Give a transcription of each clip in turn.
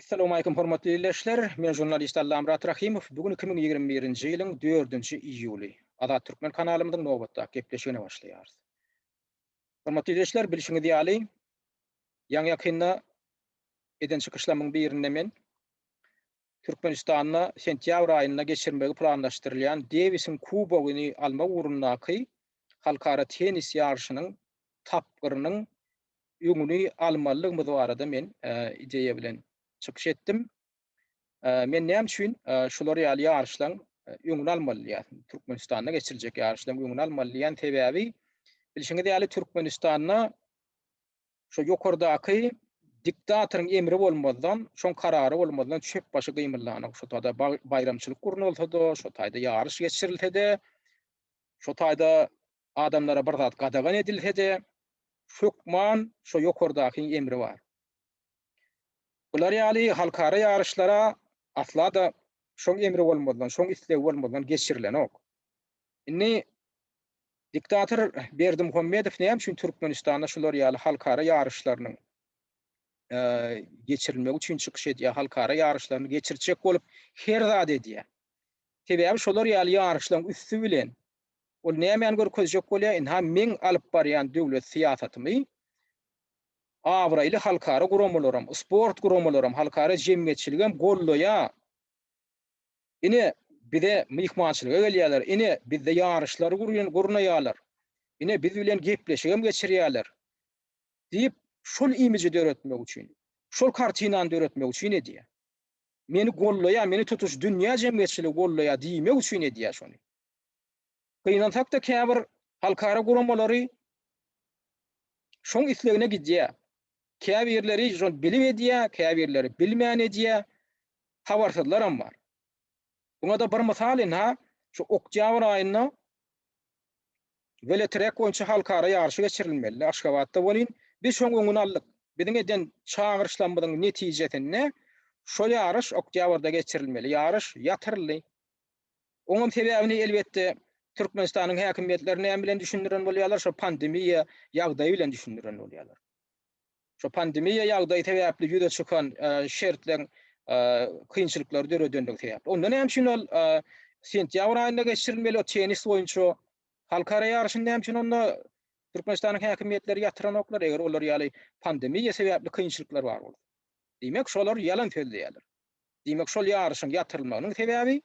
Essalamualeýkum hormatly ildeşler! Men žurnalist Allamyrat Rahymow. Bu gün iki müň ýigrimi birinji ýylyň dördünji iýuly. Azat Türkmen kanalymyzyň nobatdaky gepleşigine başlaýarys. Hormatly ildeşler, bilşiňiz ýaly, ýaňy-ýakynda eden çykyşlamyň birinde men Türkmenistanda sentýabr aýynda geçirmegi planlaşdyrylýan Dewisiň kubogyny almak ugrundaky halkara tennis ýaryşynyň tapgyrynyň öňüni almalydygymyz barada men ideýa bilen çykyş etdim. Men näme üçin şular ýaly ýaryşlaryň öňüni almaly diýýär, Türkmenistanda geçiriljek ýaryşlaryň öňüni almaly diýýän sebäbi, bilşiňiz ýaly, Türkmenistanda Şo ýokardaky diktatoryň emri bolmazdan, şoň karary bolmazdan çöp başy gymyldanok. Şo taýda baýramçylyk gurnalsa-da, şo taýda ýaryş geçirilse-de, şo taýda adamlara bir zat gadagan edilse-de, hökman şo ýokardakyň emri bar. Bular ýaly halkara ýaryşlara asla-da şoň emri bolmazdan, şoň islegi bolmazdan geçirilenok. Indi Diktator Berdimuhamedow näme üçin Türkmenistanda şular ýaly halkara ýaryşlarynyň geçirilmegi üçin çykyş edýär, halkara ýaryşlaryny geçirtjek bolup her zat edýär. Sebäbi şolar ýaly ýaryşlaryň üsti bilen ol nämäni görkezjek bolýar, ynha meň alyp barýan döwlet syýasatymy abraýly halkara guramalaram, sport guramalaram, halkara jemgyýetçiligem gollaýar. Ine, bize myhmançylyga gelýärler, ine, bizde ýaryşlary gurnaýarlar, ine, biz bilen gepleşigem geçirýärler diýip, şol imiji döretmek üçin, şol kartinany döretmek üçin edýär. Meni gollaýar, meni tutuş dünýä jemgyýetçiligi gollaýar diýmek üçin edýär şony. Gynansak-da käbir halkara guramalary şoň islegine gidýär. Käbirleri şony bilip edýär, käbirleri bilmän edýär, habarsyzlaram bar. Muňa-da bir mysal ynha, şu oktýabr aýynda welotrek boýunça halkara ýaryşy geçirilmelidi, Aşgabatda welin, biz şoň öňüni aldyk. Biziň eden çagyryşlarymyzyň netijesinde, şo ýaryş oktýabrda geçirilmeli ýaryş ýatyryldy. Oňam sebäbini elbetde Türkmenistanyň häkimiýetleri näme bilen düşündiren bolýarlar, şo pandemiýa ýagdaýy bilen düşündiren bolýarlar. Şo pandemiýa ýagdaýy sebäpli ýüze çykan şertleň kynçylyklary döredendigi sebäpli. Onda näme üçin ol sentýabr aýynda geçirilmeli o tennis boýunça halkara ýaryşyny näme üçin onda Türkmenistanyň häkimiýetleri ýatyranoklar, eger olar ýaly pandemiýa sebäpli kynçylyklar bar bolsa. Diýmek, şolar ýalan sözleýärler. Diýmek, şol ýaryşyň ýatyrylmagynyň sebäbi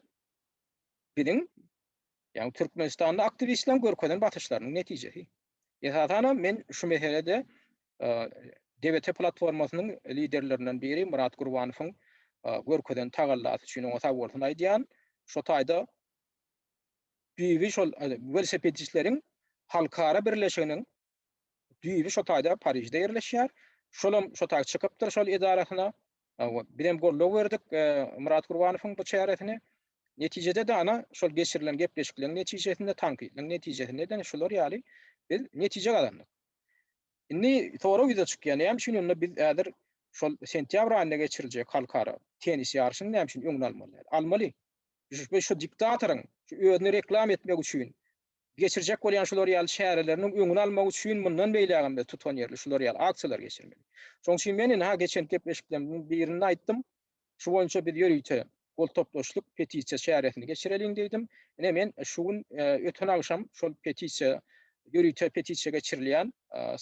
biziň, ýagny türkmenistanly aktiwistleriň görkezen basyşlarynyň netijesi. Esasanam men şu meselede DBT platformasynyň liderlerinden biri Myrat Gurbanowyň görkezen tagallasy üçin oňa sag bolsun aýdýan. Şo taýda düýbi şol welosipedçileriň halkara birleşiginiň düýbi şo taýda Parižde ýerleşýär. Şolam şo taý çykypdyr şol edarasyna. Bizem goldaw berdik Myrat Gurbanowyň bu çäresine. Netijede-de ana şol geçirilen gepleşikleriň netijesinde, tankytlaryň netijesinde-de şular ýaly biz netije gazandyk. Indi sorag ýüze çykýar, näme üçin onda biz häzir şol sentýabr aýynda geçiriljek halkara tennis ýaryşyny näme üçin öňüni almaly? Almaly. Şu diktatoryň özüni reklama etmek üçin Geçirjek bolýan şular ýaly çäreleriniň öňüni almak üçin mundan beýlägem-de tutanýerli şular ýaly aksiýalar geçirmeli. Şonuň üçin men indi-ha geçen gepleşiklerimiziň birinde aýtdym, şu boýunça biz ýörite gol toplaşdyk, petisiýa çäresini geçireliň diýdim. Ine, men şu gün, öten agşam şol petisiýa, ýörite petisiýa geçirilýän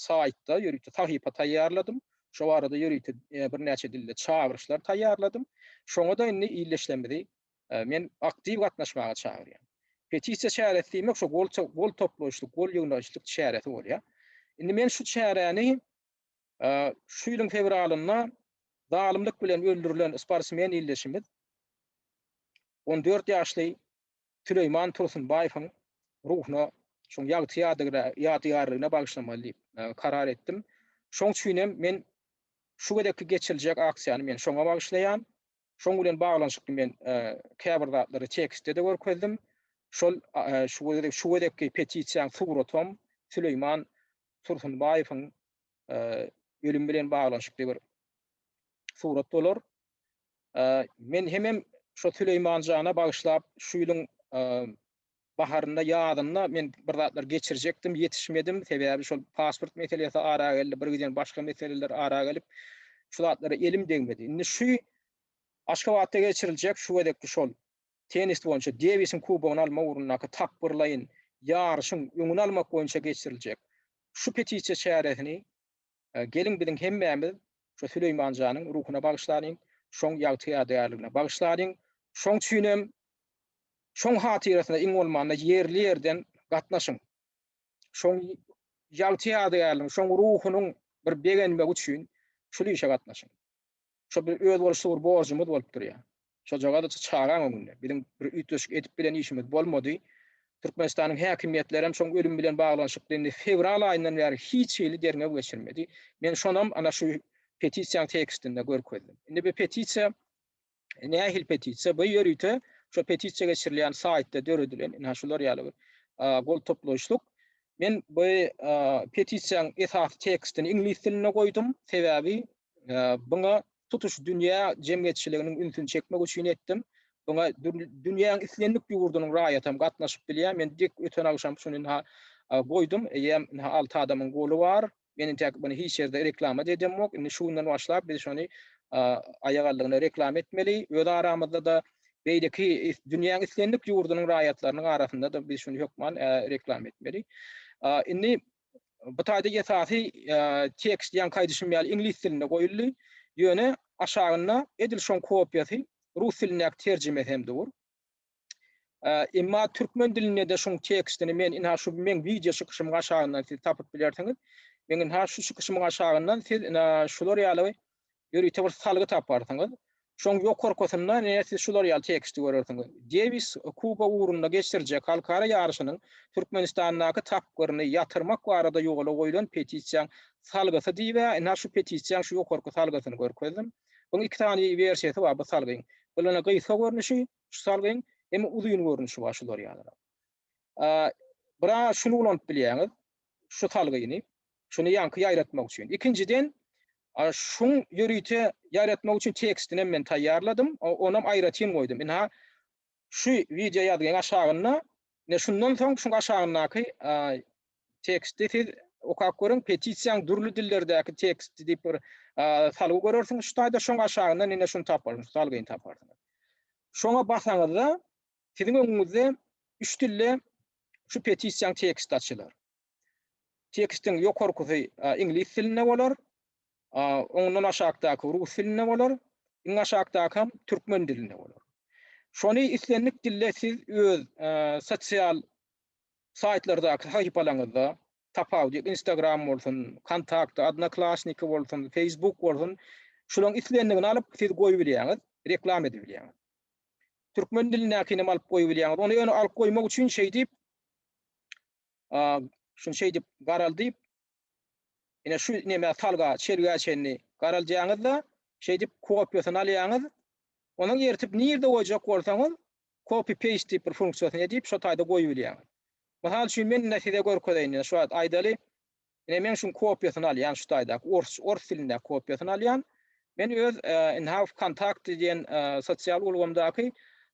saýtda ýörite sahypa taýýarladym. Şo barada ýörite birnäçe dilde çagyryşlar taýýarladym. Şoňa-da indi ildeşlerimizi men aktiw gatnaşmaga çagyrýan. Petisiýa çäresi diýmek şo gol toplaýyşlyk, gol ýygnaýyşlyk çäresi bolýar. Indi men şu çäräni şu ýylyň fewralynda zalymlyk bilen öldürilen sportsmen ildeşimiz on dört ýaşly Süleýman Tursunbaýewiň ruhuna şoň ýagty ýadygärligine bagyşlamaly diýip karar etdim. Şoň üçin hem men şu gezekki geçiriljek aksiýany men şoňa bagyşlaýan. Şoň bilen baglanyşykly men käbir zatlary tekstde-de görkezdim. Şol şu gezekki petisiýaň suratam Süleýman Tursunbaýewiň ölümi bilen baglanyşykly bir surat bolar. Men hemem şo Süleýman jana bagyşlap şu ýylyň Baharynda, ýazynda men bir zatlar geçirjekdim, ýetişmedim. Sebäbi şol pasport meselesi ara geldi, bir giden başga meseleler ara gelip, şu zatlara elim degmedi. Indi şu Aşgabatda geçiriljek şu gezekki şol tennis boýunça Dewisiň kubogyny almak ugrundaky tapgyrlaýyn ýaryşyň öňüni almak boýunça geçiriljek şu petisiýa çäresini Geliň biziň hemmämiz şu Süleýman janyň ruhuna bagyşlanyň, şoň ýagty ýadygärligine bagyşlanyň, şoň üçinem şoň hatyrasyna iň bolmanda ýerli ýerden gatnaşyň. Şoň ýagty ýadygärligiň, şoň ruhunyň bir begenmegi üçin şul işe gatnaşyň. Şo bir özboluşly bir borjumyz bolup durýar. Şojagaz çagaň öňünde biziň bir üýtgeşik edip bilen işimiz bolmady. Türkmenistanyň häkimiýetleri hem şoň ölüm bilen baglanyşykly indi fewral aýyndan bäri hiç hili derňew geçirmedi. Men şonam ana şu petisiýaň tekstinde görkezdim. Indi bu petisiýa nähili petisiýa? Bu ýörite şu petisiýa geçirilýän saýtda döredilen, ine, şular ýaly bir gol toplaýyşlyk. Men bu petisiýanyň esasy tekstini iňlis dilinde goýdum, sebäbi buňa tutuş dünýä jemgyýetçiliginiň ünsüni çekmek üçin etdim. Buňa dünýäniň islendik ýurdunyň raýaty hem gatnaşyp bilýär. Men öten agşam şuny goýdum, eýýäm alty adamyň goly bar. Men intäk muny hiç ýerde reklama-da edemok. Indi şu günden başlap biz şony aýagaldygyna reklama etmeli. Öz aramyzda-da, beýleki dünýäň islendik ýurdunyň raýatlarynyň arasynda-da biz şuny hökman reklama etmeli. Indi bu taýda esasy tekst ýaňky aýdyşym ýaly iňlis dilinde goýuldy. Ýöne aşagynda edil şoň kopiýasy rus dilindäki terjimesi hem dur. Emma türkmen dilinde-de şuň tekstini men ina şu meň wideo çykyşymyň aşagyndan siz tapyp bilersiňiz. Meň ina şu çykyşymyň aşagyndan siz ina şular ýaly ýörite bir salgy taparsyňyz. Şoň ýokarkysynda ine siz şular ýaly teksti görersiňiz. Dewis Kuba ugrunda geçirjek halkara ýaryşynyň Türkmenistandaky tapgyryny ýatyrmak barada ýola goýlan petisiýaň salgysy diýip, ina şu petisiýaň şu ýokarky salgysyny görkezdim. Buň iki sany wersiýasy bar bu salgyň. Bul ina gysga görnüşi, Şu salgyň hem uzyn görnüşi bar şular ýalyrak. Bir a şuny ulanyp bilýäňiz. Şu salgyny. Şuny ýaňky ýaýratmak üçin. Ikinjiden şuň ýörite ýaýratmak üçin tekstini hem men taýýarladym. Ony hem aýratyn goýdum. Ine şu wideo ýazgyň aşagynda, ine şundan soň şuň aşagyndaky teksti siz okap görüň, petisiýaň dürli dillerdäki teksti diýip bir salgy görersiňiz şu taýda, şoň aşagyndan ine şuny taparsyňyz, salgyny taparsyňyz. Şoňa basaňyzda siziň öňüňizde üç dilde şu petisiýaň teksti açylar. Tekstiň ýokarkysy iňlis dilinde bolar, ondan aşakdaky rus dilinde bolar, iň aşakdakam türkmen dilinde bolar. Şony islendik dilde siz öz sosial Saýtlardaky sahypalaryňyzda, tapawudy ýok, Instagram bolsun, Kontakty, Odnoklassniki bolsun, Feýsbuk bolsun, şularyň islendigini alyp, siz goýubilýäňiz, reklama edibilýäňiz. Türkmen dilindäkini hem alyp goýubilýäňiz. Ony ýöne alyp goýmak üçin şeýdip, şuny şeýdip garaldyp, ine şu nämä salga, çelgä çenli garaldýaňyz-da, şeýdip kopiýasyny alýaňyz. Onuň eritip nirde goýjak bolsaňyz, copy paste diýip bir funksiýasyny edip şo taýda goýubilýäň. Mysal üçin men indi size görkezeýin indi şu wagt aýdaly ine men şuň kopiýasyny alýan şu taýdaky ors ors dilindäki kopiýasyny alýan men öz indi ha wkontakte diýen sosial ulgamdaky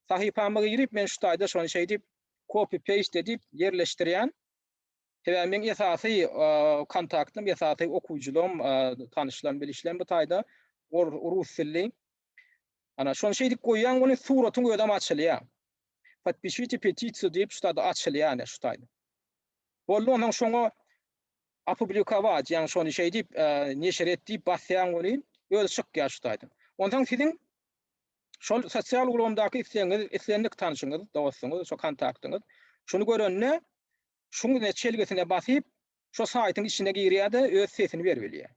sahypama girip men şu taýda şony şeýdip copy paste edip ýerleşdirýän sebäbi meň esasy wkontaktym esasy okuwcylygym tanyşlarym bilişlerim bu taýda rus dilli Ana şony şeýdip goýýaň muny suratyň özem açylýa. Podpišite petisiýa diýip şu taýda açylýa ine şu taýda. Boldy onsoň şoňa opublikować ýaňy şony şeýdip neşir et diýip basýaň welin özi çykýa şu taýda. Onsoň siziň şol sosial ulgamdaky islegiňiz islendik tanşyňyz dostuňyz şo kontaktyňyz şuny görende şuň ine çelgisine basyp şo saýtyň içine girýäde öz sesini berip ilýä.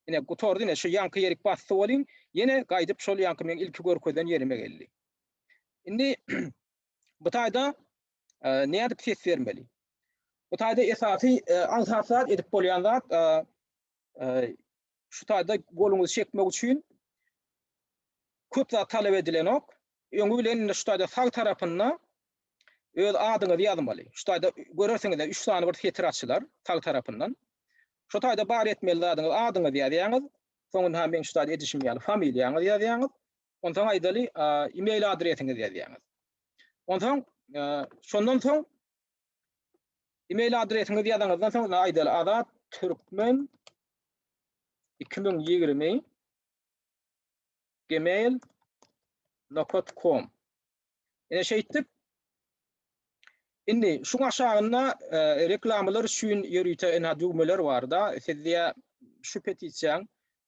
Ine gutardy ine şu ýaňky ýerik basdy bolyň ýene gaýdyp şol ýaňky meň ilki görkezen ýerime geldi. Indi bu taýda nädip ses bermeli? Bu taýda esasy aňsat zat edip bolýan zat Şu taýda goluňyzy çekmek üçin köp zat talap edilenok. Öňi bilen indi şu taýda sag tarapynda öz adyňyzy ýazmaly. Şu taýda görersiňiz-de üç sany bir setir açylar sag tarapyndan. Şu taýda bar etmeli zadyňyz adyňyzy ýazýaňyz. Soňunha meň şu taýda edişim ýaly familiýaňyzy ýazýaňyz. Onsoň aýdaly e-mail adresiňizi ýazýaňyz. Onsoň e, şondan soň Email adresiňizi ýazaňyzdan soň indi aýdaly Azat Türkmen iki müň ýigrimi gmail nokat kom. Ine şeýtdip Indi şuň aşagynda reklamalar üçin ýörite ina düwmeler barda, siz diýä şu petisiýaň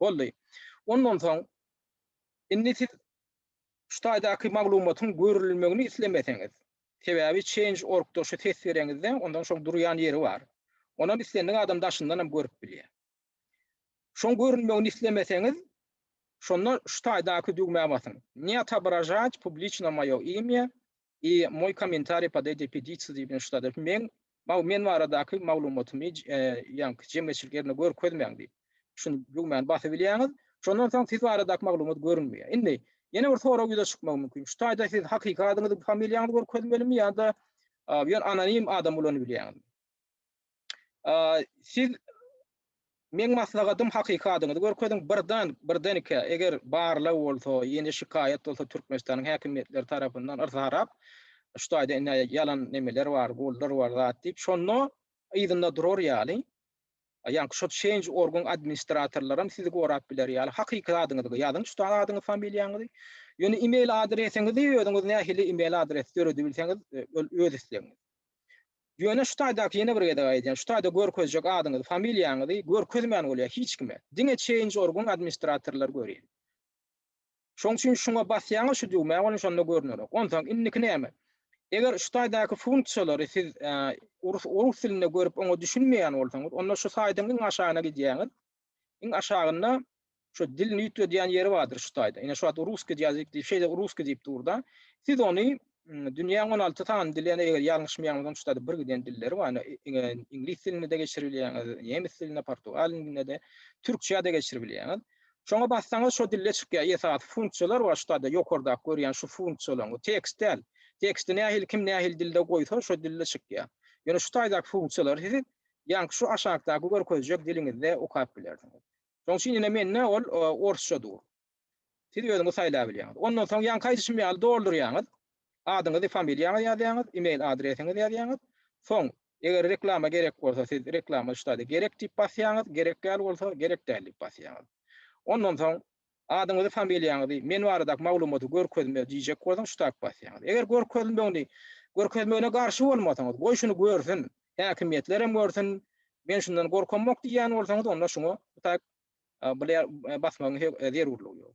Boldy. Ondan soň, indi siz şu taýdaky maglumatyň görülmegini islemeseňiz, sebäbi Change. Org-da şu ses bereňizde, ondan şoň durýan ýeri bar. Onam islendik adam daşyndanam görüp bilýär. Şoň görünmegini islemeseňiz, şonda şu taýdaky düwmä basyň, Ne otobražat publiçno moýo imýa, I moj komentariý pod eýdjej pedisiýa diýip ýene şudadyr. Meň maw men baradaky maglumatymy ýaňky jemgyýetçilik ýerinde görkezmäň diýip. Şuny düwmäni basyp ilýäňiz. Şondan soň siz baradaky maglumat görünmeýär. Indi ýene bir sorag ýüze çykmagy mümkin. Şu taýda siz hakyky adyňyzy, familiýaňyzy görkezmelimi ýa-da ýöne anonim adam ulanyp bilýäňizmi? Siz Meň maslahatym hakyky adyňyzy görkeziň birdan birden ikä eger barlag bolsa ýene şikaýat bolsa Türkmenistanyň häkimiýetleri tarapyndan yrsa harap şu taýda indi ýalan nemeler bar bollar bar zat diýip şonda yzynda durar ýaly ýaňky şu change orgun administratorlaram sizi gorap biler ýaly hakyky adyňyzy ýazyň şu taýda adyňyzy familiýaňyzy ýöne email adresiňizi özüňiz nähili email adres döredi bilseňiz e, ol öz islegiňiz Ýöne şu taýdaky ýene bir gezek aýdýan, şu taýda görkezjek adyňyzy, familiýaňyzy görkezmän bolýar hiç kime. Diňe Change.org-yň administratorlary görýär. Şoň üçin şuňa basýaňyz şu düwmä welin şonda görünerok. Onsoň indiki näme? Eger şu taýdaky funksiýalary siz rus dilinde görüp oňa düşünmeýän bolsaňyz, onda şu saýdyň iň aşagyna gidýäňiz. Iň aşagynda şu dilini ýütgedýän ýeri bardyr şu taýda. Ine şu wagt russkiý ýazyk diýip şeýle russkiý diýip durda. Siz ony dünýäň on alty sany dili ýa-da eger ýalňyşmaýanymyzam şu taýda birgiden dilleri bar. Ine iňlis dilinde-de geçirip bilýäňiz, nemes dilinde, portugal dilinde-de, türkçä-de geçirip bilýäňiz. Şoňa bassaňyz şo dilde çykýar. Esasy funksiýalar bar şu taýda ýokardaky görýän şu funksiýalaryň. Bu tekst däl. Teksti nähili kim nähili dilde goýsa şo dilde çykýar. Ýöne şu taýdaky funksiýalary siz Ýaňky şu aşakdaky görkezjek diliňizde okap bilersiňiz. Şoň üçin ine mende ol orsça dur. Siz özüňiz saýlap bilýäňiz. Ondan soň ýaňky aýdyşym ýaly doldurýaňyz. Adyňyzy, familiýaňyzy ýazýaňyz, email adresiňizi ýazýaňyz. Soň eger reklama gerek bolsa siz reklama ştady gerek diýip basýaňyz, gerek däl bolsa gerek däl diýip basýaňyz. Ondan soň Adyňyzy, familiýaňyzy, men baradaky maglumaty görkezme diýjek bolsaň ştap basýaňyz. Eger görkezmegini görkezmegine garşy bolmasaňyz, goý şuny görsün, häkimiýetlerem görsün, men şundan gorkamok diýýän bolsaňyz onda şuňa ştap basmagyň zerurlygy ýok.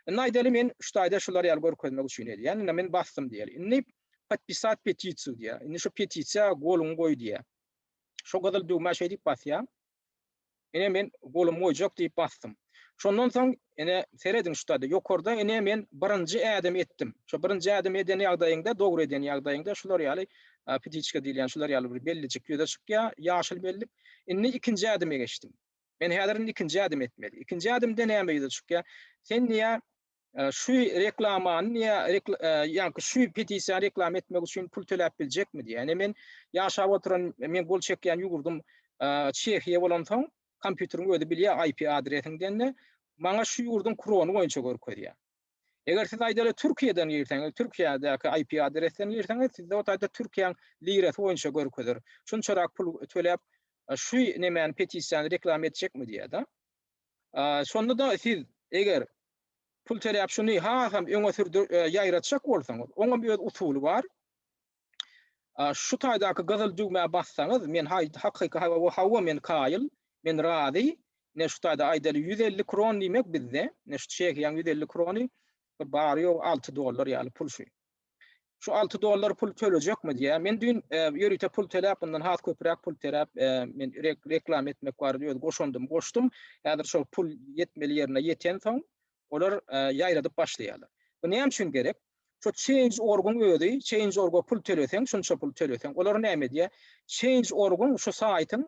Indi aýdaly men ştaýda şular ýaly görkezmek üçin edýän, indi men basdym diýeli. Indi podpisat petisiýa diýýär. Indi şu petisiýa goluňy goý diýýär. Şu gyzyl düwmä şeýdip basýaň. Ine men golumy goýjak diýip basdym. Şondan soň ine serediň şutady ýokarda ine men birinji ädimi etdim. Şo birinji ädimi eden ýagdaýyňda dogry eden ýagdaýyňda şular ýaly petiçka diýilýän şular ýaly bir bellijik ýüze çykýar ýaşyl bellik. Indi ikinji ädime geçdim. Men häzir indi ikinji ädimi etmeli. Ikinji ädimde näme ýüze çykýar? Sen diýýär Şu reklamany ýa-da şu petisiýany reklama etmek üçin pul töläp biljekmi diýýär. Ine men ýaşap oturan, men gol çekýän ýurdum Çehiýa bolansoň, kompýuteriň özi bilýär IP adresiňden-de, maňa şu ýurduň krony boýunça görkezýär. Eger siz aýdaly Türkiýeden girseňiz, Türkiýädäki IP adresden girseňiz, sizde o taýda Türkiýäň lirasy boýunça görkezer. Şunçarak pul töläp şu nemäni, petisiýany reklama etjekmi diýýär-de. Şonda-da siz eger pul töläp şuny hasam öňe sürdür ýaýratjak bolsaňyz, oňam öz usuly bar. Şu taýdaky gyzyl düwmä bassaňyz, men hakyky hawa hawa men kaýyl, men razy. Ine şu taýda aýdaly ýüz elli kron diýmek bizde, ine şu çehiýaň ýüz elli krony bir bary ýogy alty dollar ýaly pul şu. Şu alty dollar pul tölejekmi diýýär. Men düýn ýörite pul töläp, mundan has köpüräk pul töläp, men reklama etmek barada öz goşandymy goşdum. Häzir şol pul ýetmeli ýerine ýetensoň, olar ýaýradyp başlaýarlar. Bu näme üçin gerek? Şu Change.org-yň özi, Change.org-a pul töleseň, şunça pul töleseň, olar näme edýär? Change.org-yň şu saýtyň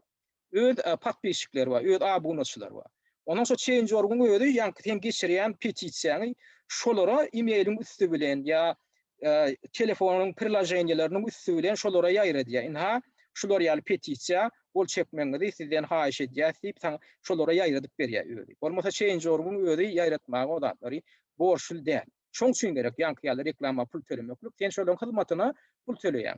Öz podpisçikleri bar, öz abunaçylary bar. Onuň şo change.org-yň özi, ýaňky seň geçirýän petisiýaňy şolara e-mailiň üsti bilen ýa telefonyň priloženiýeleriniň üsti bilen şolara ýaýradýar. Ynha, şular ýaly petisiýa, gol çekmegiňizi sizden haýyş edýäs diýip, saňa şolara ýaýradyp berýär özi. Bolmasa change.org-yň özi ýaýratmaga o zatlary borçly däl. Şoň üçin gerek ýaňky ýaly reklama pul tölemeklik. Sen şolaryň hyzmatyna pul töleýäň.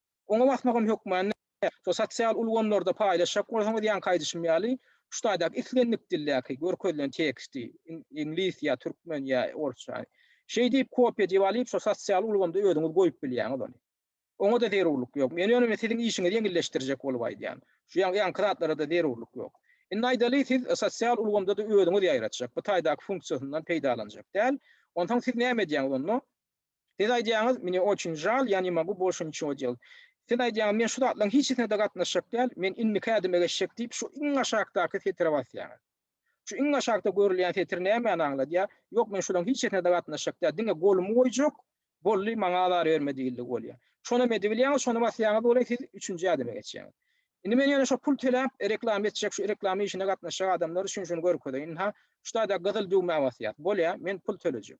Oňa basmagam hökmany, şo sosial ulgamlarda paýlaşjak bolsaňyz ýaňky aýdyşym ýaly, şu taýdaky islendik dildäki görkezilen teksti, iňlis ýa türkmen ýa orsça, şeý diýip kopiýa edip alyp şo sosial ulgamda özüňiz goýup bilýäňiz ony. Oňa-da zerurlyk ýok. Men ýöne siziň işiňizi ýeňilleşdirjek bolup aýdýan. Şu ýaňky zatlara-da zerurlyk ýok. Indi aýdaly siz sosial ulgamda-da özüňiz ýaýratjak, bu taýdaky funksiýasyndan peýdalanjak däl. Onsoň siz näme edýäňiz onda? Siz aýdýaňyz, Mne oçün žal, ýa ne mogu bolşy niçin odýel. Siz aýdýaňyz, Men şu zatlaryň hiçisine-de gatnaşjak däl, men indiki ädime geçjek diýip şu iň aşakdaky setire basýaňyz. Şu iň aşakda görülýän setir nämäni aňladýar? Ýok, men şularyň hiçisine-de gatnaşjak däl, diňe golumy goýjak, boldy, maňa azar berme diýildigi bolýar. Şonam edibilýäňiz, şony basýaňyz bolaý, siz üçünji ädime geçýäňiz. Indi men ýöne şo pul töläp, reklama etjek, şu reklama işine gatnaşjak adamlar üçin şuny görkezeýin. Ynha, şu taýda gyzyl düwmä basýas. Bolýa, men pul tölejek.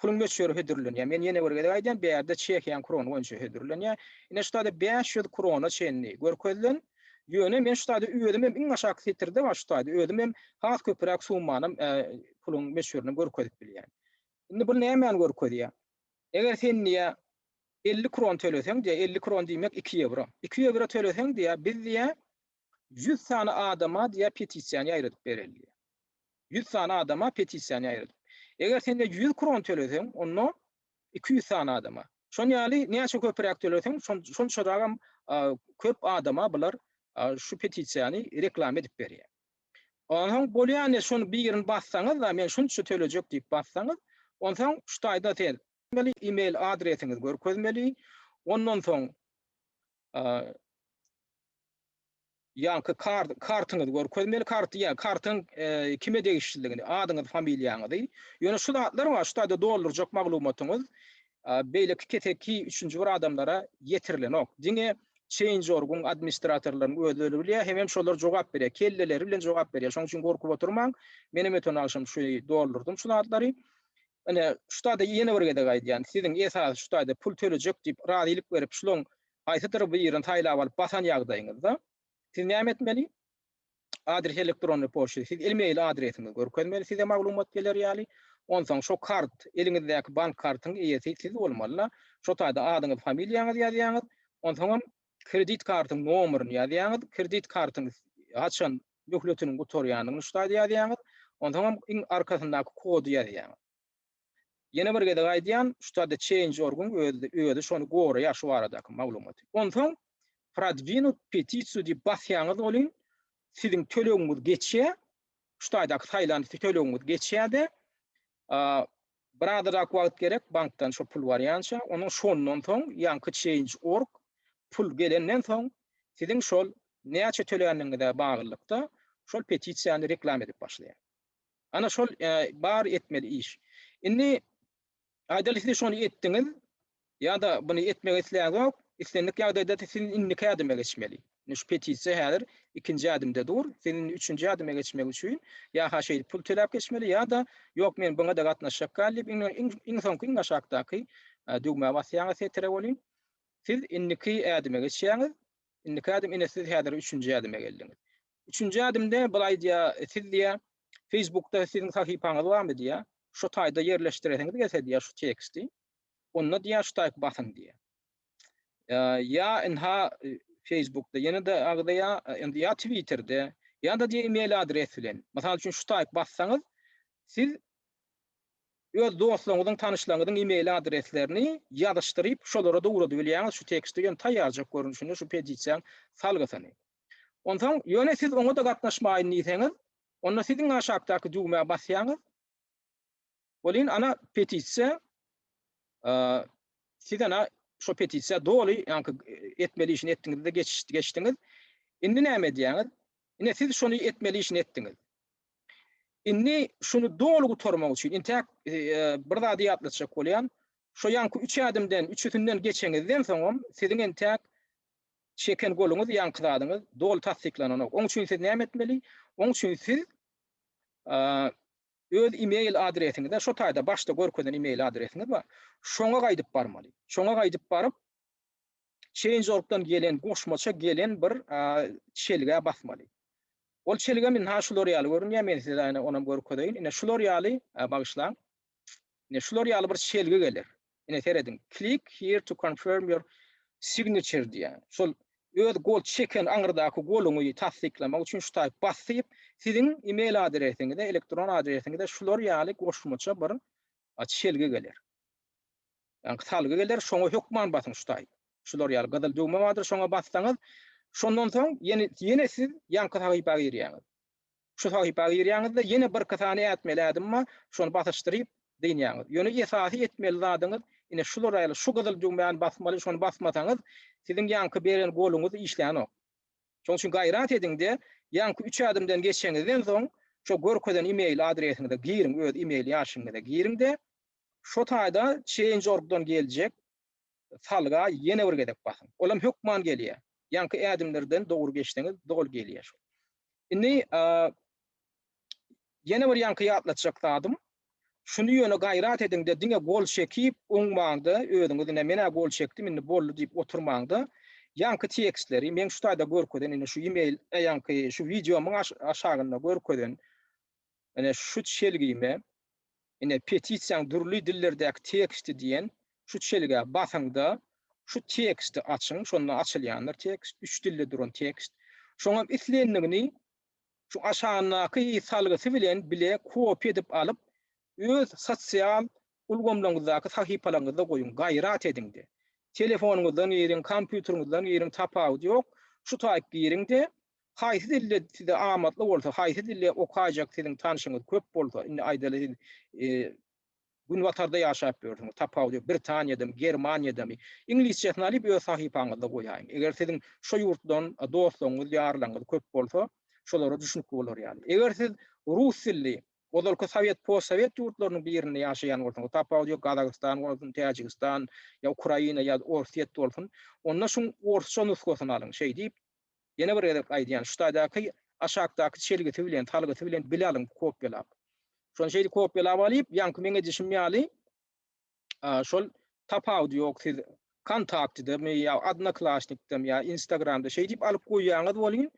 Puluň möçberi hödürlenýär. Men ýene bir gezek aýdýan, bärde çehiýan krony boýunça hödürlenýär. Ine şu taýda bäş ýüz krona çenli görkezilen. Ýöne men şu taýda özüm hem iň aşaky setirde bar şu taýda özüm hem has köpüräk summanam puluň möçberini görkezip bilýän. Indi bul nämäni görkezýär? Eger sen diýýär elli kron töleseň diýýär, elli kron diýmek iki ýewro. Iki ýewro töleseň diýýär biz diýýär Ýüz sany adama diýä petisiýany ýaýradyp berildi. Ýüz sany adama petisiýany ýaýradyp. Eger sende ýüz kron töleseň, onda iki ýüz sany adama. Şon ýaly näçe köpüräk töleseň, şonçarakam köp adama bular şu petisiýany reklama edip berýär. Onsoň bolýany şony birini bassaňyzda, men şunça tölejek diýip bassaňyz, onsoň şu taýda siz e-mail adresiňizi görkezmeli, ondan soň Ýaňky kart, kartyňyzy görkezmeli, karty ýa kartyň kime degişlidigini, adyňyzy, familiýaňyzy. Ýöne şu zatlar bar, şu taýda doldurjak maglumatyňyz beýleki keseki üçünji bir adamlara ýetirilenok. Diňe Change.org-yň administratorlarynyň özleri bilýär, hemem şolar jogap berýär, kelleleri bilen jogap berýär. Şonuň üçin gorkup oturmaň. Menem öten agşam şuny doldurdym şu zatlary. Ine, şu taýda ýene bir gezek aýdýan, siziň esasy şu taýda pul tölejek diýip razylyk berip şulaň haýsydyr birini saýlap alyp basan ýagdaýyňyzda, siz näme etmeli? Adres elektronny poçta, siz ilmeýil adresiňizi görkezmeli size maglumat geler ýaly, onsoň şo kart, eliňizdäki bank kartyň eýesi siz bolmaly-da, şo taýda adyňyz, familiýaňyz ýazýaňyz, onsoňam kredit kartyň nomeryny ýazýaňyz, kredit kartyň haçan möhletiniň gutarýandygyny şu taýda ýazýaňyz, onsoňam iň arkasyndaky kody ýazýaňyz. Ýene bir gezek aýdýan, şu taýda change.org-yň özi şony goraýar şu baradaky maglumaty. Onsoň Prodwinut petisiýu diýip basýaňyz welin, siziň tölegiňiz geçýär, şu taýdaky saýlan tölegiňiz geçýär-de, Bir azajak wagt gerek bankdan şo pul barýança, onuň şondan soň ýaňky change org pul gelenden soň siziň şol näçe töländigiňize baglylykda şol petisiýany reklam edip başlaýar. Ana şol bar etmeli iş. Indi aýdaly siz şony etdiňiz, Ýa-da buny etmek isläňok, islendik ýagdaýda siz indiki ädime geçmeli. Indi şu petisiýa häzir ikinji ädimde dur. Siz indi üçünji ädime geçmek üçin ýa-ha şeýdip pul töläp geçmeli, ýa-da ýok men buňa-da gatnaşjak däl diýip iň soňky iň aşakdaky düwmä basýaňyz setire welin, siz indiki ädime geçýäňiz. Indiki ädim ine siz häzir üçünji ädime geldiňiz. Üçünji ädimde bul aýdýar, siz diýýär, Facebookda siziň sahypaňyz barmy diýýär. Şu taýda ýerleşdiresiňiz gelse diýýär şu teksti. onda diýýär şu taýp basyň diýýär. Ýa ynha Facebookda ýene-de agzaýa, indi ýa Twitterde, ýa-da diýýär e-mail adres bilen. Mysal üçin şu taýp bassaňyz, siz öz dostlaryňyzyň, tanyşlaryňyzyň e-mail adreslerini ýazyşdyryp, şolara da ugradyp bilýäňiz şu teksti, ýöne taýýarjak görnüşinde şu petisiýaň salgysyny. Onsoň, ýöne siz oňa-da gatnaşmaýyn diýseňiz, onda siz iň aşakdaky düwmä basýaňyz. Welin ana petisiýa siz ana şo petisiýa doly ýaňky etmeli işini etdiňizde geçdiňiz. Indi näme edýäňiz? Ine siz şony etmeli işini etdiňiz. Indi şuny doly gutarmak üçin intäk bir zady ýatlatjak bolýan. Şo ýaňky üç ädimden üçüsinden geçeňizden soňam siziň entäk çeken goluňyz ýaňky zadyňyz doly tassyklananok. Oň üçin siz näme etmeli? Oň üçin siz öz e-mail adresiňize şu taýda başda görkezen e-mail adresiňiz bar. Şoňa gaýdyp barmaly. Şoňa gaýdyp baryp Change.org-dan gelen goşmaça gelen bir çelgä basmaly. Ol çelgem indi ha şular ýaly görünýär. Men size ýene onam görkezeýin. Ine şular ýaly, bagyşlaň. Ine şular ýaly bir çelgi geler. Ine serediň, Click here to confirm your signature diýýär. Şol öz gol çeken aňyrdaky goluňy tassyklamak üçin şu taýy basyp, siziň e-mail adresiňize, elektron adresiňize şular ýaly goşmaça bir çelgi geler. Ýagny salgy geler, şoňa hökman basyň şu taýy. Şular ýaly gyzyl düwme bardyr, şoňa bassaňyz, şondan soň ýene siz ýaňky sahypa girýäňiz. Şu sahypa girýäňiz-de, ýene birki sany ätmeli ädim bar, şony basyşdyryp, dynýaňyz. Ýöne esasy etmeli zadyňyz, ine şular ýaly, şu gyzyl düwmäni basmaly, şony basmasaňyz, siziň ýaňky beren goluňyz işlänok. Şonuň üçin gaýrat ediň-de, ýaňky üç ädimden geçeňizden soň, şu görkezen imeýl adresiňize giriň, öz imeýl ýaşyňyza giriň-de, şo taýda Change.org-dan geljek, salga ýene bir gezek basyň. Olam hökman gelýär. Ýaňky ädimlerden dogry geçseňiz doly gelýär şol. Indi ýene bir ýaňky ýatlatjak zadym Şuny ýöne gaýrat ediňde diňe gol çekip oňmaňda özüňiz ine menä gol çekdim indi boldy diýip oturmaňda ýaňky tekstleri men şu taýda görkezen indi şu email ýaňky şu wideomyň aşagynda görkezen Ine, şu çelgime, ine, Petisiýaň dürli dillerdäki teksti diýen şu çelgä basyň-da, şu teksti açyň, şonda açylýandyr tekst, üç dilde duran tekst. Şoňam islendigini şu aşagyndaky salgysy bilen bile kopiýa edip alyp, öz sosial Ulgamlaryňyzdaky sahypalaryňyzda goýuň, gaýrat ediň-de. Telefonyňyzdan giriň, kompýuteriňizden giriň, tapawudy ýok, şu taýyp giriň-de, haýsy dilde size amatly bolsa, haýsy dilde okaýjak siziň tanşyňyz köp bolsa, indi aýdaly siz Günbatarda ýaşap ýörsüňiz, tapawudy ýok, Britaniýadamy, Germaniýadamy, iňlisçesini alyp öz sahypaňyzda goýaýyň. Eger siziň şo ýurtdan dostlaryňyz, ýarlaryňyz köp bolsa, şolara düşnükli bolar ýaly. Eger siz rus dilli Ozalky sowet, postsowet ýurtlarynyň birinde ýaşaýan bolsaň, o tapawudy ýok, Gazagystan bolsun, Täjigistan, ýa Ukraina, ýa Orsýet bolsun, onda şuň orsça nusgasyny alyň. Şeý diýip, ýene bir gezek aýdýan, şu taýdaky aşakdaky çelgisi bilen, salgysy bilen bile alyň, kopýalap. Şony şeýdip kopýalap alyp, ýaňky meň edişim ýaly, şol tapawudy ýok siz kontaktydamy ýa odnoklassnikdami ýa instagramda şeý diýip alyp goýýaňyz welin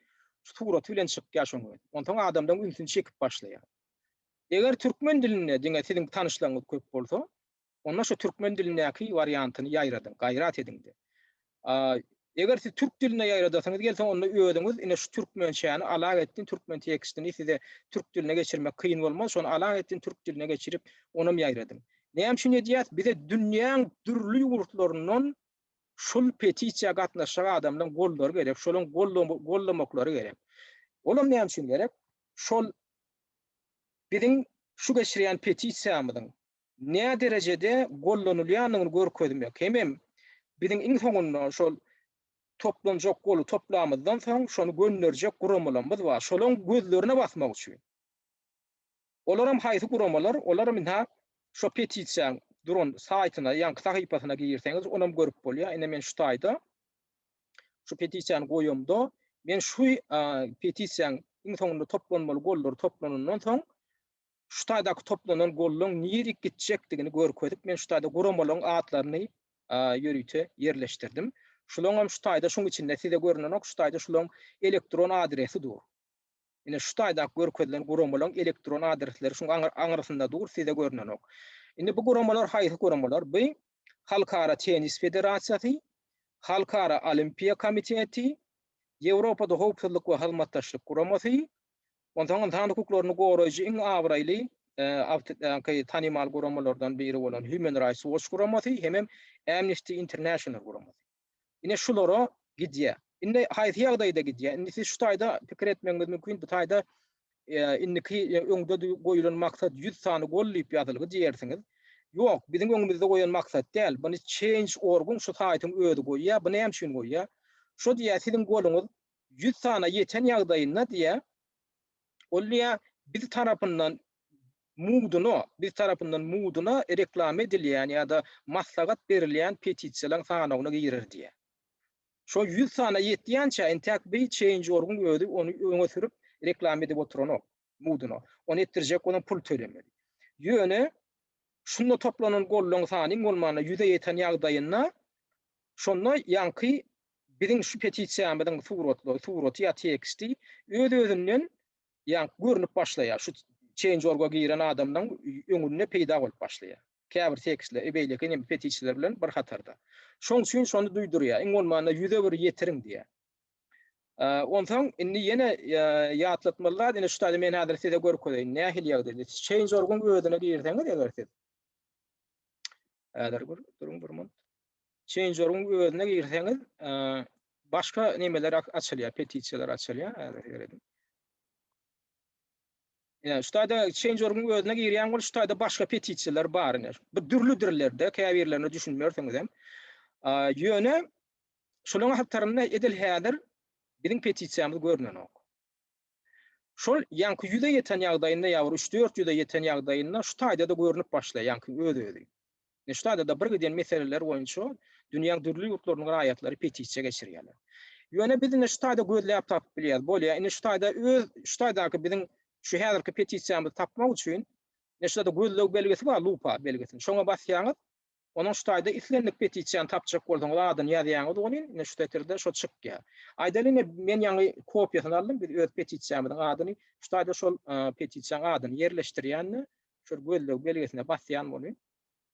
şu suraty bilen çykýar şoň özi onsoň adamlaryň ünsüni çekip başlaýar eger türkmen dilinde diňe siziň tanyşlaryňyz köp bolsa onda şu türkmen dilindäki wariantyny ýaýradyň gaýrat ediňde A Eger siz türk dilinde ýaýradasyňyz gelse, onda özüňiz ine şu türkmençäni alag etdin, türkmen tekstini size türk diline geçirmek kyn bolmaz, şony alag etdin, türk diline geçirip, onam ýaýradyň. Näme üçin edýäs? Bize dünýäň dürli ýurtlaryndan şul petisiýa gatnaşjak adamlaryň gollary gerek, şolaryň gollamaklary gerek. Olam näme üçin gerek? Şol biziň şu geçirýän petisiýamyzyň näderejede gollanylýandygyny görkezmek hemem biziň iň soňunda şol toplanjak goly toplamyzdan soň şony gönderjek guramalarymyz bar. Şolaryň gözlerine basmak üçin. Olaram haýsy guramalar? Olaram ynha şo petisiýaň duran saýtyna, ýaňky sahypasyna girseňiz onam görüp bolýar. Ine men şu taýda şu petisiýany goýamda men şu petisiýaň iň soňunda toplanmaly gollary toplanandan soň şutadaky toplanan gollaryň nirek gitjekdigini görkezip, men şutada guramalaryň atlaryny ýörite ýerleşdirdim. Şularyň hem şutaýda şuň içinde size görnenok, şutaýda şularyň elektron adresi dur. Ine şutaýdaky görkezilen guramalaryň elektron adresleri şuň aňrysynda dur, size görnenok. Indi bu guramalar haýsy guramalar? Bu Halkara tennis federasiýasy, Halkara olimpiýa komiteti, Ýewropada howpsuzlyk we hyzmatdaşlyk guramasy, Onsoň ynsan hukuklaryny goraýjy iň abraýly tanymal guramalardan biri bolan Human Rights Watch guramasy hemem Amnesty International guramasy. Ine şulara gidýär. Indi haýsy ýagdaýda gidýär? Indi siz şu taýda pikir etmegiňiz mümkin, bu taýda indiki öňde goýulan maksat ýüz sany gol diýip ýazylgy diýersiňiz. Ýok, biziň öňümizde goýan maksat däl, buny Change. Org-yň şu saýtyň özi goýýar. Bu näme üçin goýýar? Şo diýýär, siziň goluňyz ýüz sana ýeten ýagdaýynda diýýä, ol diýýä, biz tarapyndan mudyna, biz tarapyndan mudyna reklama edilýän ýa-da maslahat berilýän petisiýalaryň sanawyna girer diýýä. Şo ýüz sana ýetýänçä, intäk bi Change.org-yň özi ony öňe sürüp, reklama edip oturanok. muduna. Ony etdirjek bolan pul tölemeli. Ýöne şunda toplanan gollaryň sanyň bolmanda ýüze ýeten ýagdaýynda şonda ýaňky biziň şu petisiýamyzyň suratlary, suraty ýa teksti öz-özünden ýaňky görnüp başlaýar. Şu Change.org-a giren adamlaryň öňünde peýda bolup başlaýar. Käbir tekstler e beýleki inem petisiýalar bilen bir hatarda. Şoň üçin şony duýdurýar. Iň bolmanda ýüze bir ýetiriň diýýär. Onsoň indi ýene ýatlatmaly zat, indi şu taýda men häzir size görkezeýin, nähili ýagdaýda. Change.org-yň özüne girseňiz eger siz. Häzir bir duruň bir minut. Change.org-yň özüne girseňiz, başga nemeler açylýar, petisiýalar açylýar, häzir seredin. Ýa, şu taýda Change.org-yň özüne girýän bolup, şu taýda başga petisiýalar bar indi. Bu dürli dillerde, käbirlerine düşünmersiňizem. Ýöne Şolaryň hatarynda edil häzir biziň petisiýamyz görnenok. Şol ýaňky ýüze ýeten ýagdaýynda ýa bir üç-dört ýüze ýeten ýagdaýynda şu taýda-da görnüp başlaýar ýaňky öz-özi. Indi şu taýda-da bir giden meseleler boýunça dünýäň dürli ýurtlarynyň raýatlary petisiýa geçirýärler. Ýöne biz indi şu taýda gözläp tapyp bilýäris. Bolýar, indi şu taýda öz şu taýdaky biziň şu häzirki petisiýamyzy tapmak üçin, indi şu ýerde gözleg belgisi bar, lupa belgisini. Şoňa basýaňyz. Onuň şu taýda islendik petisiýany tapjak bolsaňyz adyny ýazýaňyz welin ine şu setirde şo çykýar. Aýdaly ine men ýaňy kopiýasyny aldym biz öz petisiýamyzyň adyny şu taýda şol petisiýaň adyny ýerleşdirýände şol gözleg belgisine basýan welin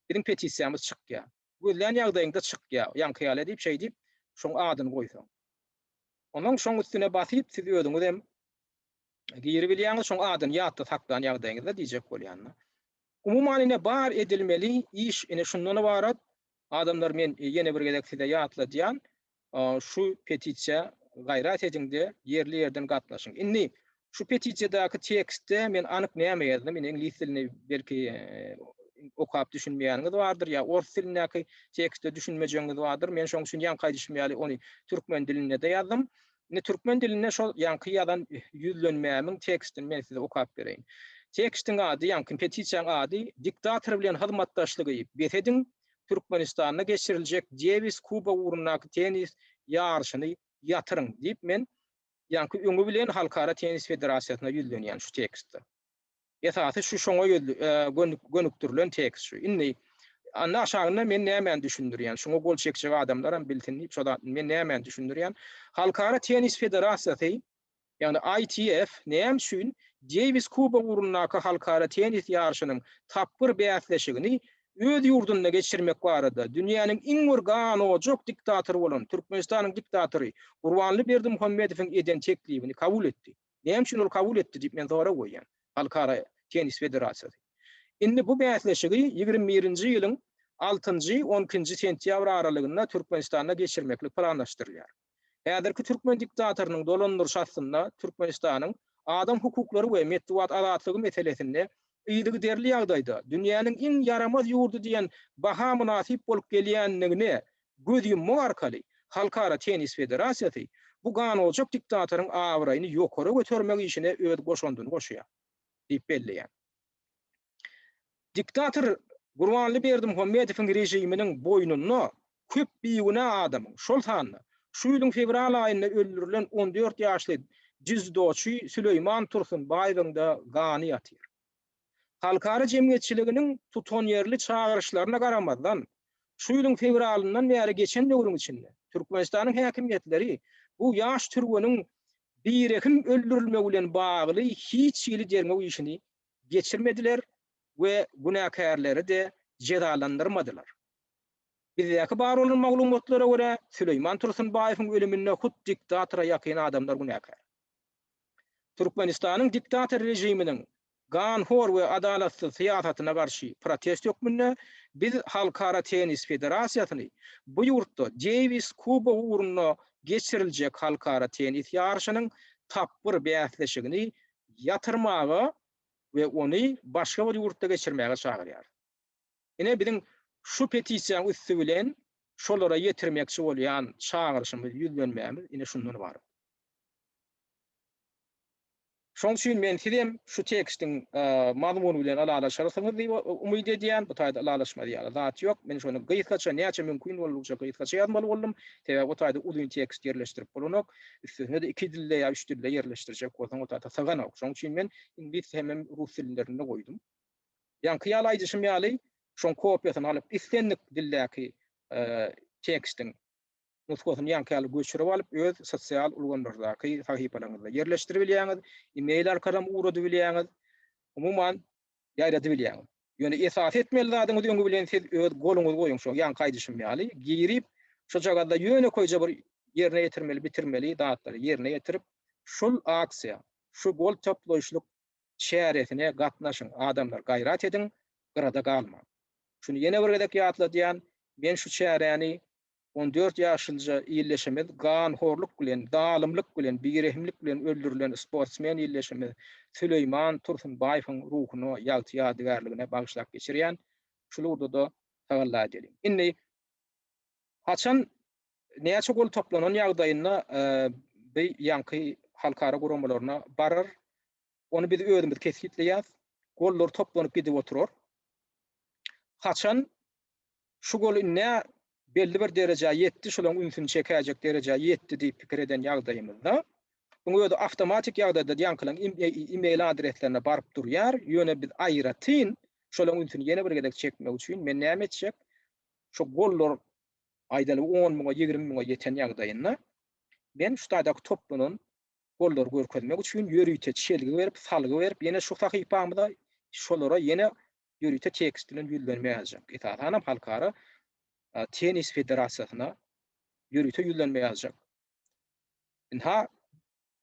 biziň petisiýamyz çykýar. Gözlän ýagdaýyňda çykýar ýaňky ýaly edip şeýdip şoň adyny goýsaň. Onuň şoň üstüne basyp siz özüňiz hem giribilýäňiz, şoň adyny ýatda saklan ýagdaýyňyzda diýjek bolýan-da. Umuman ine bar edilmeli iş ine şundan ybarat. Adamlar men ýene bir gezek size ýatladýan, şu petisiýa gaýrat ediňde ýerli ýerden gatnaşyň. Indi şu petisiýadaky tekstde men anyk näme ýazdym, indi iňlis dilini belki okap düşünmeýäniňiz bardyr ýa ors dilindäki tekste düşünmejegiňiz bardyr. Men şoň üçin ýaňky aýdyşym ýaly ony türkmen dilinde-de ýazdym. Indi türkmen dilinde şol ýaňky ýazan ýüzlenmämiň tekstini men size okap bereýin. Tekstiň ady, ýaňky petisiýaň ady Diktator bilen hyzmatdaşlygy bes ediň, Türkmenistanda geçiriljek Dewis Kuba ugrundaky tennis ýaryşyny ýatyryň diýip men ýaňky öňi bilen Halkara tennis federasiýasyna ýüzlenýän şu tekstde. Esasy şu şoňa gönükdirilen tekst şu. Indi Anda aşagynda men nämäni düşündirýän, şuňa gol çekjek adamlaram bilsin diýip şo zatny men nämäni düşündirýän. Halkara tennis federasiýasy, ýagny ITF näme üçin Deýwis kubogy ugrundaky halkara tennis ýaryşynyň tapgyr bäsleşigini öz ýurdunda geçirmek barada dünýäniň iň bir ganojak diktatory bolan Türkmenistanyň diktatory Gurbanly Berdimuhamedowyň eden teklibini kabul etdi? Näme üçin ol kabul etdi diýip men sorag goýýan Halkara tennis federasiýasy. Indi bu bäsleşigi ýigrimi birinji ýylyň altynjy, on ikinji sentýabr aralygynda Türkmenistanda geçirmeklik planlaşdyrylýar. Häzirki türkmen diktatorynyň dolandyryşy astynda Türkmenistanyň adam hukuklary we metbugat azatlygy meselesinde yzygiderli ýagdaýda dünýäniň iň ýaramaz ýurdy diýen baha mynasyp bolup gelýändigine göz ýummak arkaly Halkara tennis federasiýasy bu ganojak diktatoryň abraýyny ýokary götermek işine öz goşandyny goşýar diýip belleýär. Diktator Gurbanly Berdimuhamedowyň režiminiň boýnunda köp bigünä adamyň, şol sanda, şu ýylyň fewral aýynda öldürilen on dört ýaşly dzýudoçy Süleýman Tursunbaýewiň-de gany ýatyr. Halkara jemgyýetçiliginiň tutanýerli çagyryşlaryna garamazdan, şu ýylyň fewralyndan bäri geçen döwrüň içinde Türkmenistanyň häkimiýetleri bu ýaş türgeniň birehim öldürilmegi bilen bagly hiç hili derňew işini geçirmediler we günäkärleri-de jezalandyrmadylar. Bizdäki bar bolan maglumatlara görä, Süleýman Tursunbaýewiň ölüminde hut diktatora ýakyn adamlar günäkär. Türkmenistanyň diktator režiminiň ganhor we adalatsyz syýasatyna garşy protest hökmünde biz Halkara tennis federasiýasyny bu ýurtda Deýwis kubogy ugrunda geçiriljek halkara tennis ýaryşynyň tapgyr bäsleşigini ýatyrmaga we ony başga bir ýurtda geçirmäge çagyrýarys. Ine, biziň şu petisiýanyň üsti bilen şolara ýetirmekçi bolýan çagyryşymyz, ýüzlenmämiz ine şundan ybarat. Şonuň üçin men sizem şu tekstiň mazmuny bilen ylalaşarsyňyz diýip umyt edýän. Bu taýda ylalaşmaly ýaly zat ýok. Men şony gysgaça, näçe mümkin boldugça gysgaça ýazmaly boldum. Sebäbi o taýda uzyn tekst ýerleşdirip bolanok. Üstesine-de iki dilde ýa üç dilde ýerleşdirjek bolsaň o taýda syganok. Şonuň üçin men iňlis hemem rus dillerinde goýdum. Ýaňky ýaly aýdyşym ýaly, şoň kopiýasyny alyp, islendik dildäki tekstiň nusgasyny ýaňky ýaly göçürip alyp, öz sosial ulgamlardaky sahypalaryňyzda ýerleşdirip bilýäňiz, e-mail arkalam ugradyp bilýäňiz, umuman, ýaýradyp bilýäňiz. Ýöne esasy etmeli zadyňyz öňi bilen siz öz goluňyzy goýuň şo ýaňky aýdyşym ýaly, girip, şojagazda ýönekeýje bir ýerine ýetirmeli, bitirmeli zatlary ýerine ýetirip, şol aksiýa, şu gol toplaýyşlyk çäresine gatnaşyň adamlar gaýrat ediň gyrada galmaň. Şuny ýene bir gezek ýatladýan men şu çäräni on dört ýaşylja illeşimiz ganhorluk bilen zalymlyk bilen birehimlik bilen öldürilen sportsmen illeşimiz Süleýman Tursunbaýewiň ruhuna ýagty ýadygärligine bagyşlap geçirýän şul ugurdada tagalla edeliň. Indi haçan Näçe gol toplanan ýagdaýynda bi ýanky halkara guramalaryna barar, ony biz özümiz kesgitleýäs. Gollar toplanyp gidip oturar. Haçan şu gol indi belli bir derejä ýetdi, şolaň ünsüni çekäýjek derejä ýetdi diýip pikir eden ýagdaýymyzda, bu özi awtomatik ýagdaýda ýankylaň e-mail adreslerine baryp durýar, ýöne biz aýratyn şolaň ünsüni ýene bir gezek çekmek üçin men näme etjek, şu gollar aýdaly on müňe, ýigrimi müňe ýeten ýagdaýynda men şu taýdaky toplanan gollary görkezmek üçin ýörite çelgi berip, salgy berip, ýene şu sahypamyza şolara ýene ýörite tekst bilen ýüzlenme ýazjak. Esasanam Halkara tennis federasiýasyna ýörite ýüzlenme ýazjak. Ynha,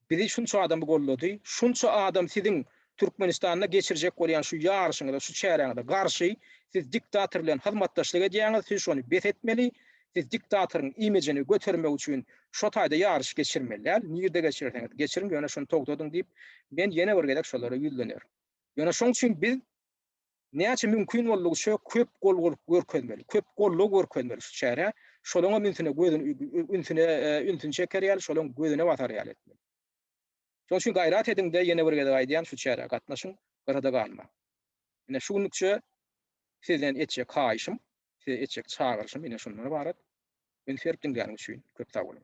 Bizi şunça adam goldady, şunça adam siziň Türkmenistanda geçirjek bolýan şu ýaryşyňyza, şu çäräňize garşy, siz diktator bilen hyzmatdaşlyk edýäňiz, siz şony bes etmeli, siz diktatoryň imijini götermek üçin şo taýda ýaryş geçirmeli däl, nirde geçirerseňiz geçiriň, ýöne şony togtadyň diýip, men ýene bir gezek şolara ýüzlenerin. Ýöne şoň üçin biz. Näçe mümkin boldugyça köp golgulyk görkezmeli, köp goldaw görkezmeli şu çärä, şolaňam ünsüne gözüni ünsüne ünsüni çeker ýaly, şolaň gözüne batar ýaly etmeli. Şonuň üçin gaýrat ediň-de, ýene bir gezek aýdýan, şu çärä gatnaşyň, gyrada galmaň. Ine, şu günlükçe sizden etjek haýyşym, size etjek çagyryşym ine şundan ybarat. Üns berip diňläniň üçin köp sag boluň.